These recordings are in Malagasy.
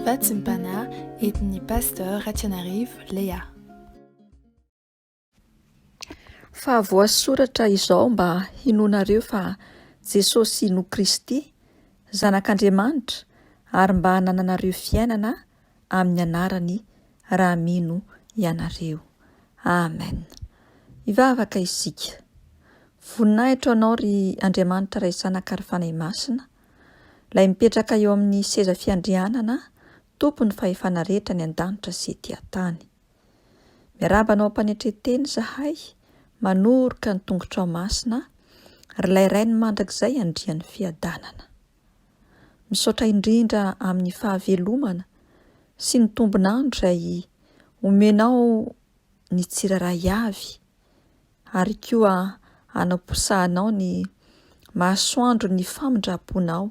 Fahatsimpana entin'ny Pasteur Ratsianarivo Léa. Fa voasoratra izao mba hinoanareo fa Jesosy no Kristy, Zanak'Andriamanitra, ary mba hanananareo fiainana amin'ny anarany raha mino ianareo. Amen. Hivavaka isika. Voninahitro Anao, ry Andriamanitra Ray Zanaka ary Fanahy Masina, Ilay mipetraka eo amin'ny seza fiandrianana, Tompon'ny fahefana rehetra any an-danitra sy ety an-tany. Miarahaba anao Mpanetre-teny izahay, manoroka ny tongotrao masina, ry Ilay Rainy mandrakizay Andrian'ny fiadanana. Misaotra indrindra amin'ny fahavelomana sy ny tombon'andro izay omenao ny tsirairay avy ary koa hanaposahanao ny masoandron'ny famindram-ponao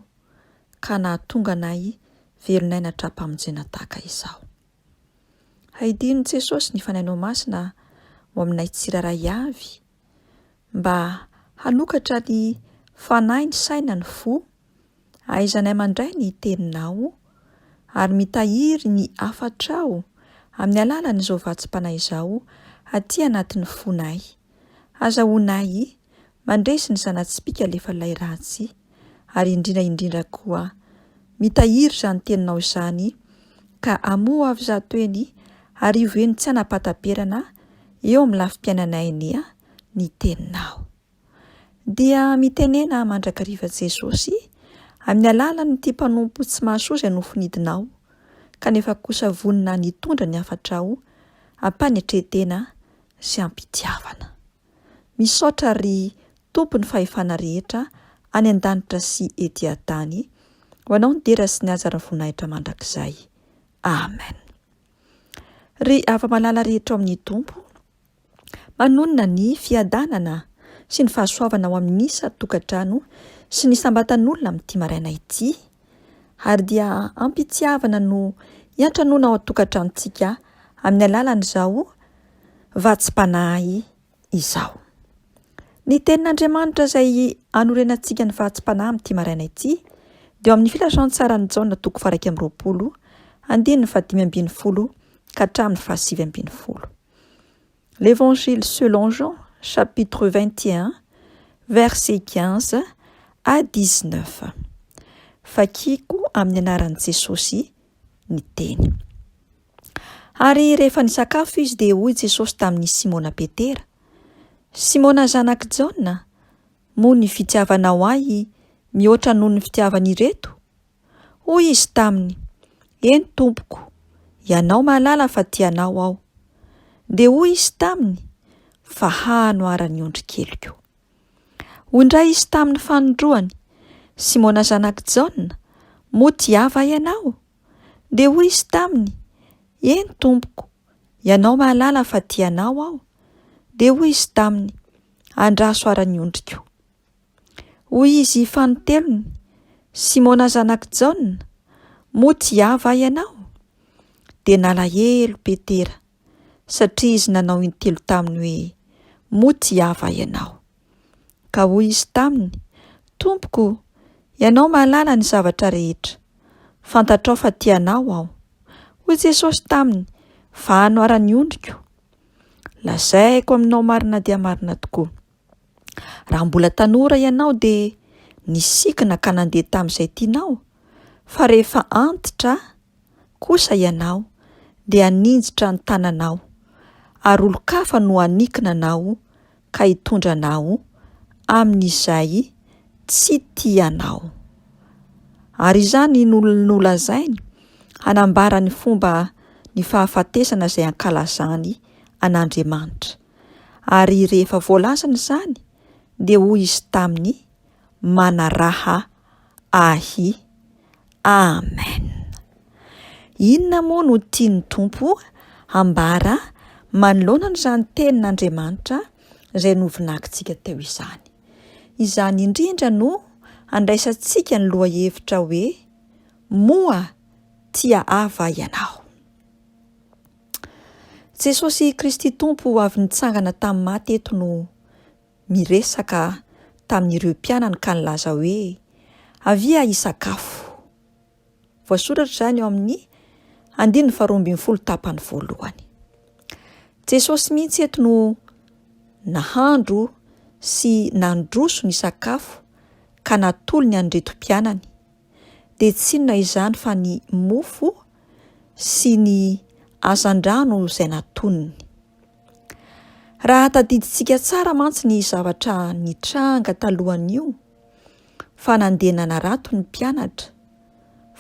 ka nahatonga anay velon'aina hatrampamonjena tahaka izao. Haidin'i Jesosy ny Fanahinao Masina ho aminay tsirairay avy mba hanokatra ny fanahy, ny saina, ny fo Ahaizanay mandray ny Teninao ary mitahiry ny hafatrao amin'ny alalan'izao vatsim-panahy izao aty anatin'ny fonay. Hazahoanay mandresy ny zana-tsipìka lefalay ratsy ary indrindra indrindra koa mitahiry izany Teninao izany ka amoa ho avy zato heny arivo heny tsy hanapataperana eo amin'ny lafim-piainanay anie ny Teninao. dia mitenena mandrakariva Jesosy amin'ny alalan'ity mpanompo tsy mahasoa izay nofinidinao kanefa kosa vonona nitondra ny hafatrao am-panetren-tena sy am-pitiavana. Misaotra ry Tompo ny fahefana rehetra any an-danitra sy ety an-tany ho anao ny dera sy ny haja ary ny voninahitra mandrakizay. Amen. Ry afa-malala rehetra ao amin'ny Tompo, Manonona ny fiadanana sy ny fahasoavana ao amin'ny isan-tokantrano sy ny isam-batan'olona amin'ity maraina ity, ary dia am-pitiavana no iantranoana ao an-tokantranontsika amin'ny alalan'izao vatsim-panahy izao. Ny tenin'Andriamanitra izay anorenantsika ny vatsim-panahy amin'ity maraina ity dia ao amin'ny Filazantsaran'i Jaona toko faha-iraika amby roapolo, andininy fahadimy ambin'ny folo ka hatramin'ny fahasivy ambin'ny folo. L'Evangile selon Jean chapitre 21 verset 15 à 19. Vakiko amin'ny anaran'i Jesosy ny teny. Ary rehefa nisakafo izy dia hoy Jesosy tamin'i Simona Petera, Simona zanak'i Jaona, moa ny fitiavanao ahy mihoatra noho ny fitiavan'ireto? Hoy izy taminy, Eny tompoko, ianao mahalala fa tia anao aho. Dia hoy izy taminy, Fa hano ara ny ondrikeliko. Hoy indray izy tamin'ny fanondroany, Simona zanak'i Jaona, moa tia va ianao? Dia hoy izy taminy, Eny tompoko, ianao mahalala fa tia anao aho. Dia hoy izy taminy, Andraso ara ny ondriko. Hoy izy fanintelony, Simona zanak'i Jaona, moa tsy ahy va ianao? Dia nalahelo Petera, satria izy nanao intelo taminy hoe, Moa tsy ahy va ianao? Ka hoy izy taminy, Tompoko, ianao mahalala ny zavatra rehetra. Fantatrao fa tia anao aho. Hoy Jesosy taminy, Vahano ara ny ondriko. Lazaiko aminao marina dia marina tokoa, Raha mbola tanora ianao dia nisikina ka nandeha tamin'izay tianao, fa rehefa antitra kosa ianao dia haninjitra ny tananao, ary olon-kafa no hanikina anao ka hitondra anao amin'izay tsy tianao. Ary izany no nolazainy hanambara ny fomba ny fahafatesana izay ankalazany an'Andriamanitra. ary rehefa voalazana izany dia hoy izy taminy, Manaraha Ahy. Amen. Inona moa no tian'ny Tompo hambara manoloana an'izany tenin'Andriamanitra izay novinakintsika teo izany? Izany indrindra no handraisantsika ny lohahevitra hoe Moa tia Ava ianao? Jesosy Kristy Tompo avy nitsangana tamin'ny maty eto no miresaka tamin'ireo mpianany ka nilaza hoe, Avia hisakafo. Voasoratra izany eo amin'ny andininy faharoa ambin'ny folo tapany voalohany. Jesosy mihitsy eto no nahandro sy nandroso ny sakafo ka natolony an'ireto mpianany. dia tsy inona izany fa ny mofo sy ny hazandrano izay natoniny. Raha tadidintsika tsara mantsy ny zavatra nitranga talohan'io fa nandeha nanarato ny mpianatra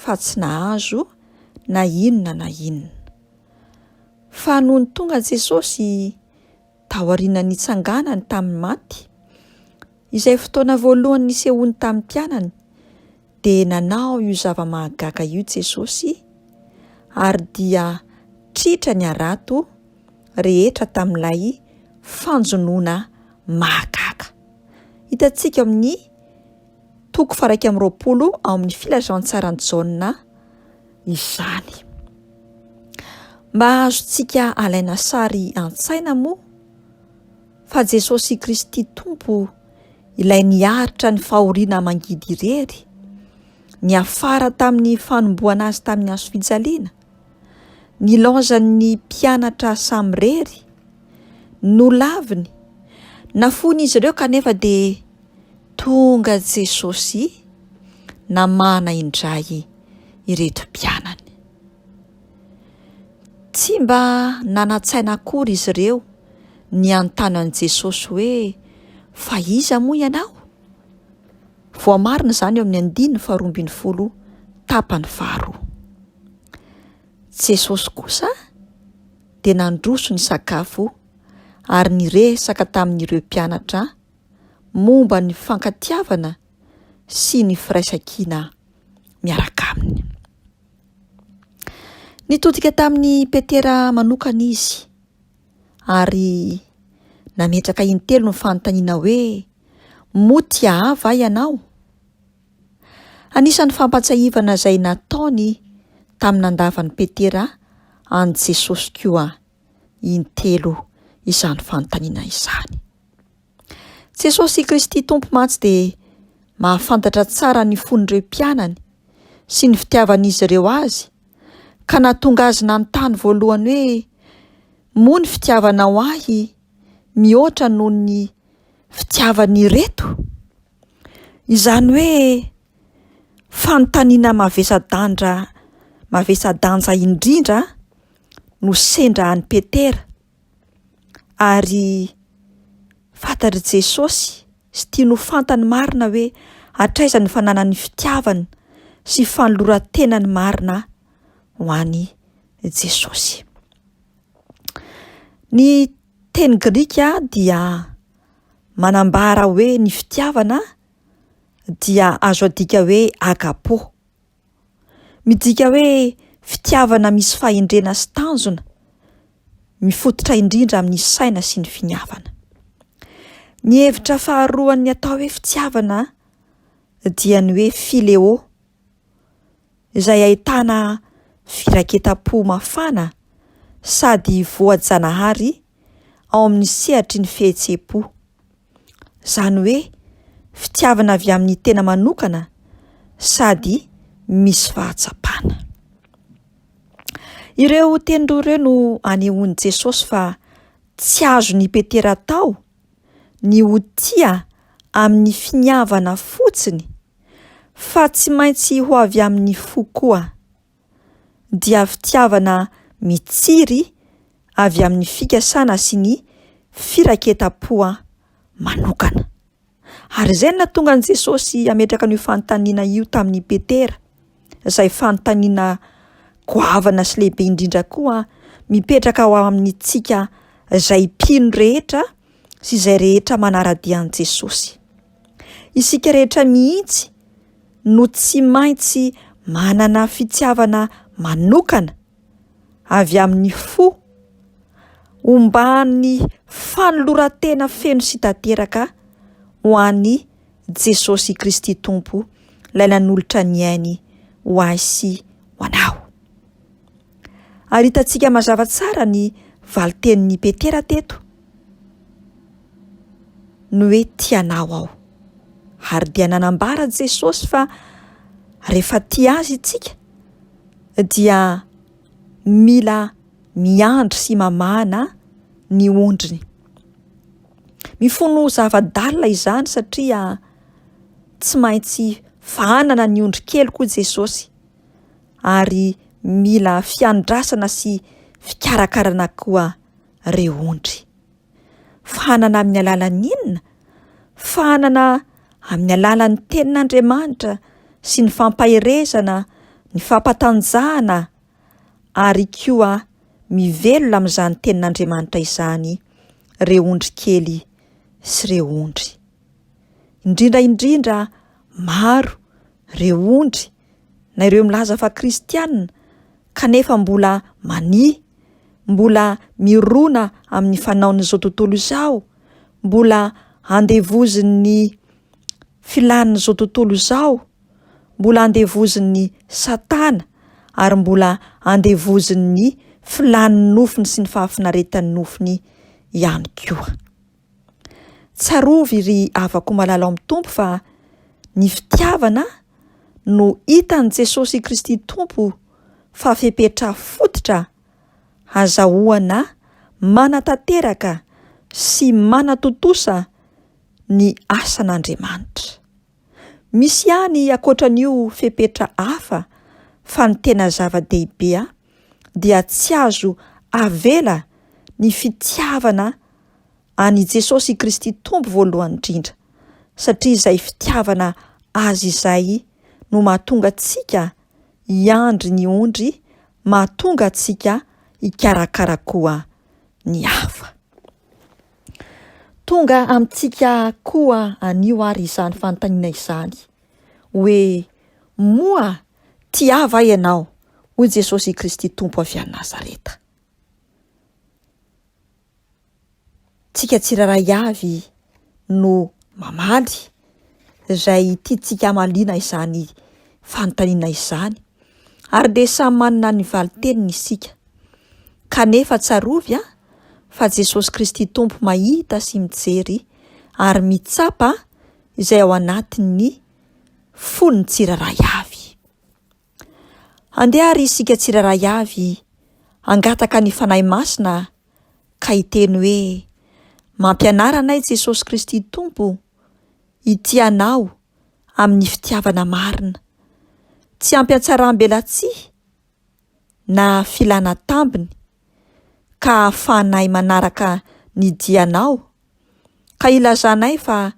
fa tsy nahazo na inona na inona. Fa nony tonga Jesosy taorian'ny nitsanganany tamin'ny maty, izay fotoana voalohany nisehoany tamin'ny mpianany, dia nanao io zava-mahagaga io Jesosy, ary dia tritra ny harato rehetra tamin'ilay fanjonoana mahagaga. Hitantsika ao amin'ny. Toko faharaika amby roapolo ao amin'ny filazantsaran'i Jaona izany. Mba azontsika alaina sary an-tsaina moa fa Jesosy Kristy Tompo ilay niaritra ny fahoriana mangidy irery, niafara tamin'ny fanomboana azy tamin'ny hazo fijaliana, nilaozan'ny mpianatra samirery, nolaviny, nafoin'izy ireo kanefa dia Tonga Jesosy namahana indray ireto mpianany. Tsy mba nanan-tsaina akory izy ireo niantano an'i Jesosy hoe fa iza moa ianao? Voamarina izany eo amin'ny andininy faharoa ambin'ny folo tapany faharoa. Jesosy kosa dia nandroso ny sakafo ary niresaka tamin'ireo mpianatra momba ny fankatiavana sy ny firaisankina miaraka aminy. Nitodika tamin'i Petera manokana izy ary nametraka intelo ny fanontaniana hoe moa tia ahy va ianao? Anisan'ny fampatsiahivana izay nataony tamin'ny nandavan'i Petera an'i Jesosy koa intelo izany fanontaniana izany. Jesosy Kristy Tompo mantsy dia mahafantatra tsara ny fon'ireo mpianany sy ny fitiavan'izy ireo azy ka nahatonga azy nanontany voalohany hoe moa ny fitiavanao ahy mihoatra noho ny fitiavan'ireto? Izany hoe fanontaniana mavesa-danja mavesa-danja indrindra no sendra an'i Petera, ary fantatr'i Jesosy sy tiany ho fantany marina hoe hatraiza ny fananany fitiavana sy fanoloran-tenany marina ho an'i Jesosy. Ny teny grika dia manambara hoe ny fitiavana dia azo adika hoe agapo, midika hoe fitiavana misy fahendrena sy tanjona, mifototra indrindra amin'ny saina sy ny finiavana. Ny hevitra faharoan'ny atao hoe fitiavana dia ny hoe phileo, izay ahitana firaketam-po mafana sady voajanahary ao amin'ny sehatry ny fihetseham-po. Izany hoe fitiavana avy amin'ny tena manokana sady misy fahatsapana. Ireo teny roa ireo no anehoan'i Jesosy fa tsy azony ipetera-tao ny ho tia amin'ny finiavana fotsiny, fa tsy maintsy ho avy amin'ny fo koa, dia fitiavana mitsiry avy amin'ny fikasana sy ny firaiketam-poa manokana. Ary izay no nahatonga an'i Jesosy hametraka an'io fanontaniana io tamin'i Petera, izay fanontaniana goavana sy lehibe indrindra koa mipetraka ho amintsika izay mpino rehetra sy izay rehetra manara-dia an'i Jesosy. Isika rehetra mihitsy no tsy maintsy manana fitiavana manokana avy amin'ny fo, omban'ny fanoloran-tena feno sy tanteraka ho an'i Jesosy Kristy Tompo, Ilay nanolotra ny ainy ho ahy sy ho anao. Ary hitantsika mazava tsara ny valintenin'i Petera teto, ny hoe tia anao aho. Ary dia nanambara Jesosy fa rehefa tia azy isika dia mila miandry sy mamahana ny ondriny. Mifono zava-dalina izany satria tsy maintsy fahanana ny ondrikely koa Jesosy. ary mila fiandrasana sy fikarakarana koa re ondry. Fahanana amin'ny alalan'ny inona? Fahanana amin'ny alalan'ny tenin'Andriamanitra sy ny fampaherezana, ny fampatanjahana ary koa mivelona amin'izany tenin'Andriamanitra izany re ondry kely sy re ondry. Indrindra indrindra maro re ondry na ireo milaza fa kristiana kanefa mbola mania, mbola mirona amin'ny fanaon'izao tontolo izao, mbola andevozin'ny filàn'izao tontolo izao, mbola andevozin'i Satana ary mbola andevozin'ny filàn'ny nofony sy ny fahafinaretan'ny nofony ihany koa. Tsarovy ry havako malala ao amin'ny Tompo fa ny fitiavana no hitan'i Jesosy Kristy Tompo fa fepetra fototra hazahoana manatanteraka sy manatontosa ny asan'Andriamanitra. Misy ihany ankoatra an'io fepetra hafa fa ny tena zava-dehibe dia tsy azo avela ny fitiavana an'i Jesosy Kristy Tompo voalohany indrindra, satria izay fitiavana Azy izay no mahatonga antsika hiandry ny ondry, mahatonga antsika hikarakara koa ny hafa. Tonga amintsika koa anio ary izany fanontaniana izany, hoe, Moa tia va ianao, hoy Jesosy Kristy Tompo avy any Nazareta? Tsika tsirairay avy no mamaly, izay tiantsika hamaliana izany fanontaniana izany. ary dia samy manana ny valin-teniny isika. Kanefa tsarovy an, fa Jesosy Kristy Tompo mahita sy mijery ary mitsapa izay ao anatin'ny fon'ny tsirairay avy. Andeha ary isika tsirairay avy hangataka ny Fanahy Masina ka hiteny hoe, Mampianara anay Jesosy Kristy Tompo hitia Anao amin'ny fitiavana marina. Tsy ampy an-tsaram-belatsihy na filana tambiny ka ahafahanay manaraka ny dianao ka ilazanay fa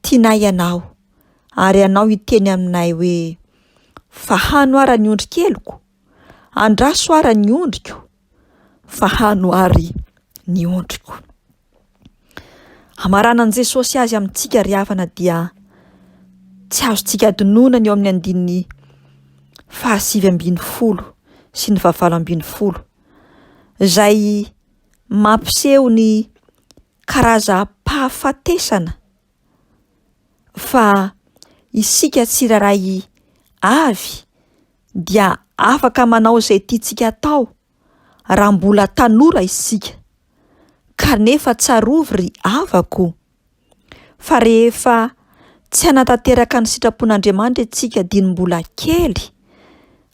tianay ianao ary ianao hiteny aminay hoe, Fahano ara ny ondrikeliko, andraso ara ny ondriko. fa hano àry ny ondriko. Hamaranan'i Jesosy azy amintsika ry havana dia tsy azontsika adinoina ny eo amin'ny andininy fahasivy ambin'ny folo sy ny fahavalo ambin'ny folo izay mampiseho ny karazam-pahafatesana fa isika tsirairay avy dia afaka manao izay tiantsika atao raha mbola tanora isika, kanefa tsarovy ry havako o, fa rehefa tsy hanatanteraka ny sitrapon'Andriamanitra isika dieny mbola kely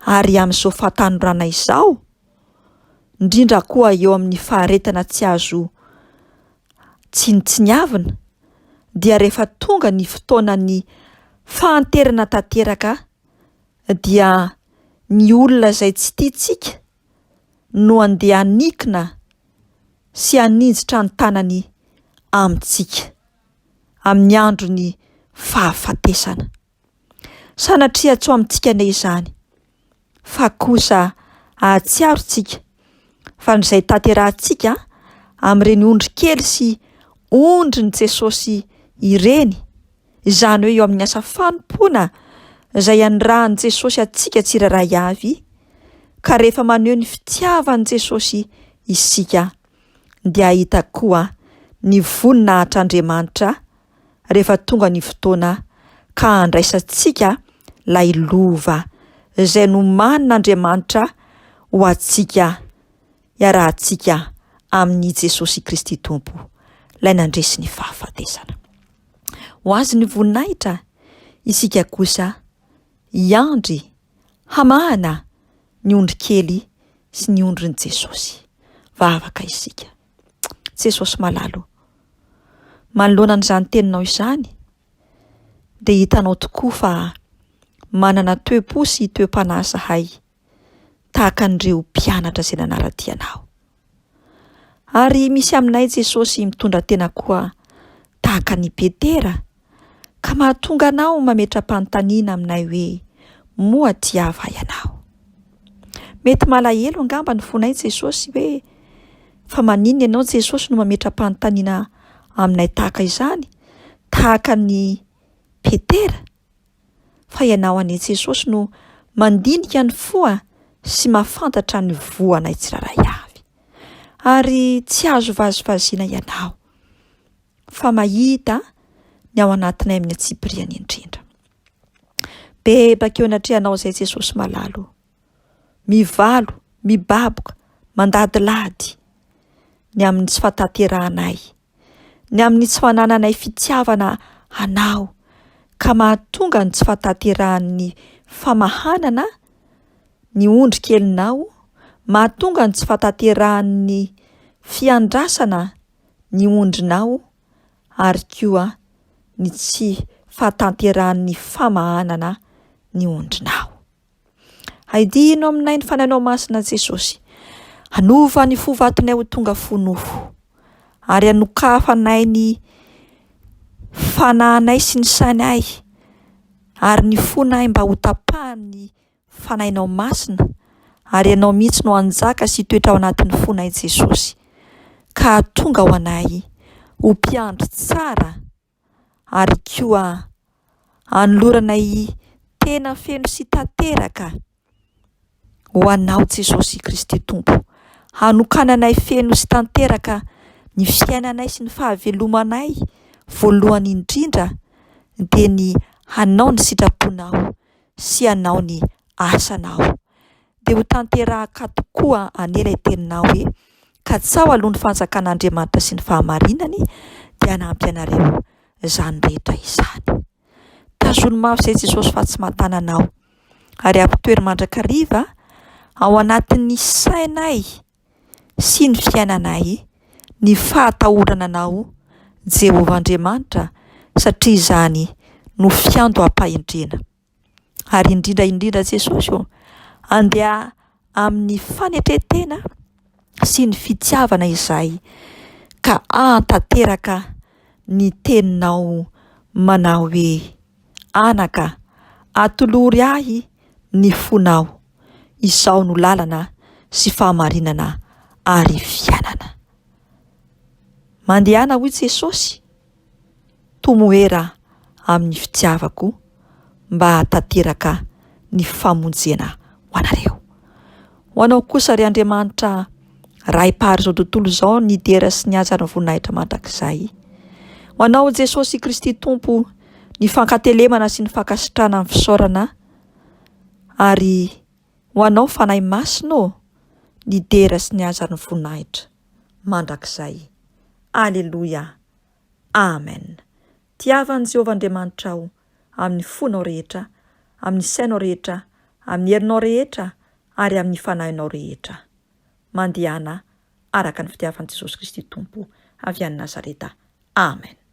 ary amin'izao fahatanorana izao, indrindra koa eo amin'ny faharetana tsy azo tsinontsiniavina, dia rehefa tonga ny fotoanan'ny fahanterana tanteraka, dia ny olona izay tsy tiantsika no handeha hanikoina sy haninjitra ny tanany amintsika amin'ny andron'ny fahafatesana. Sanatria tsy ho amintsika anie izany, fa kosa hahatsiaro isika fa ny izay tanterahintsika amin'ireny ondrikely sy ondrin'i Jesosy ireny izany hoe eo amin'ny asa fanompoana izay anirahan'i Jesosy antsika tsirairay avy, ka rehefa maneho ny fitiavan'i Jesosy isika, dia hahita koa ny voninahitra Andriamanitra rehefa tonga ny fotoana ka handraisantsika ilay lova izay nomanin'Andriamanitra ho antsika iarahantsika amin' i Jesosy Kristy Tompo, Ilay nandresy ny fahafatesana. Ho Azy ny voninahitra, isika kosa hiandry hamahana ny ondrikely sy ny ondrin'i Jesosy. Vavaka isika. Jesosy malalo, manoloana an'izany teninao izany, dia hitanao tokoa fa manana toe-po sy toe-panahy zahay tahaka an'ireo mpianatra izay nanara-dia anao. Ary misy aminay Jesosy mitondra tena koa tahaka an'i Petera ka mahatonga anao mametra-panontaniana aminay hoe moa tia va ianao? Mety malahelo angamba ny fonay Jesosy hoe fa maninona ianao Jesosy no mametra-panontaniana aminay tahaka izany tahaka an'i Petera? fa ianao anie Jesosy no mandinika ny foha sy mahafantatra ny voanay tsirairay avy. Ary tsy azo vazivaziana ianao fa mahita ny ao anatinay amin'ny antsipiriany indrindra. Bebaka eo anatrehanao izay Jesosy malalo. mivalo, mibaboka, mandadilady, ny amin'ny tsy fahatanterahanay, ny amin'ny tsy fanananay fitiavana Anao, ka mahatonga ny tsy fahatanterahan'ny famahanana ny ondry kelinao, mahatonga ny tsy fahatanterahan'ny fiandrasana ny ondrinao, ary koa ny tsy fahatanterahan'ny famahanana ny ondrinao. Haidihino aminay ny fanahinao masina, Jesosy. Hanova ny fo vatonay ho tonga fo nofo, ary hanokafanay ny fanahinay sy ny sainay ary ny fonay mba ho tapahan'ny fanahinao masina, ary ianao mihitsy no hanjaka sy hitoetra ao anatin'ny fonay, Jesosy. Ka tonga ho anay ho mpiandry tsara. ary koa anolorana i tena feno sy tanteraka ho anao Jesosy Kristy Tompo, hanokananay feno sy tanteraka ny fiainanay sy ny fahavelomanay voalohany indrindra dia ny hanao ny sitraponao sy hanao ny asanao. dia ho tanterahaka tokoa anie ilay teninao hoe, Katsaho aloha ny fanjakan'Andriamanitra sy ny fahamarinany, dia hanampy anareo izany rehetra izany. Tazono mafy izay Jesosy fa tsy mahatanana aho, ary ampitoero mandrakariva ao anatin'ny sainay sy ny fiainanay ny fahatahorana anao Jehovah Andriamanitra, satria izany no fiandoham-pahendrena. ary indrindra indrindra Jesosy ô, andeha amin'ny fanetren-tena sy ny fitiavana izahay ka ahatanteraka ny teninao manao hoe, Anaka, atolory ahy ny fonao, izao no lalana sy fahamarinana ary fiainana. Mandehana hoy Jesosy. Tomoera amin'ny fitiavako mba hahatanteraka ny famonjena ho anareo. Ho anao kosa ry Andriamanitra Ray Mpahary izao tontolo izao ny dera sy ny haja ary ny voninahitra mandrakizay. Ho anao Jesosy Kristy Tompo ny fankatelemana sy ny fankasitrahana ny fisaorana ary ho anao Fanahy Masina ô ny dera sy ny haja ary ny voninahitra. mandrakizay. Aleloia! Amen! Tiava an'i Jehovah Andriamanitrao amin'ny fonao rehetra, amin'ny sainao rehetra, amin'ny herinao rehetra, ary amin'ny fanahinao rehetra. Mandehana araka ny fitiavan'i Jesosy Kristy Tompo avy any Nazareta. Amen!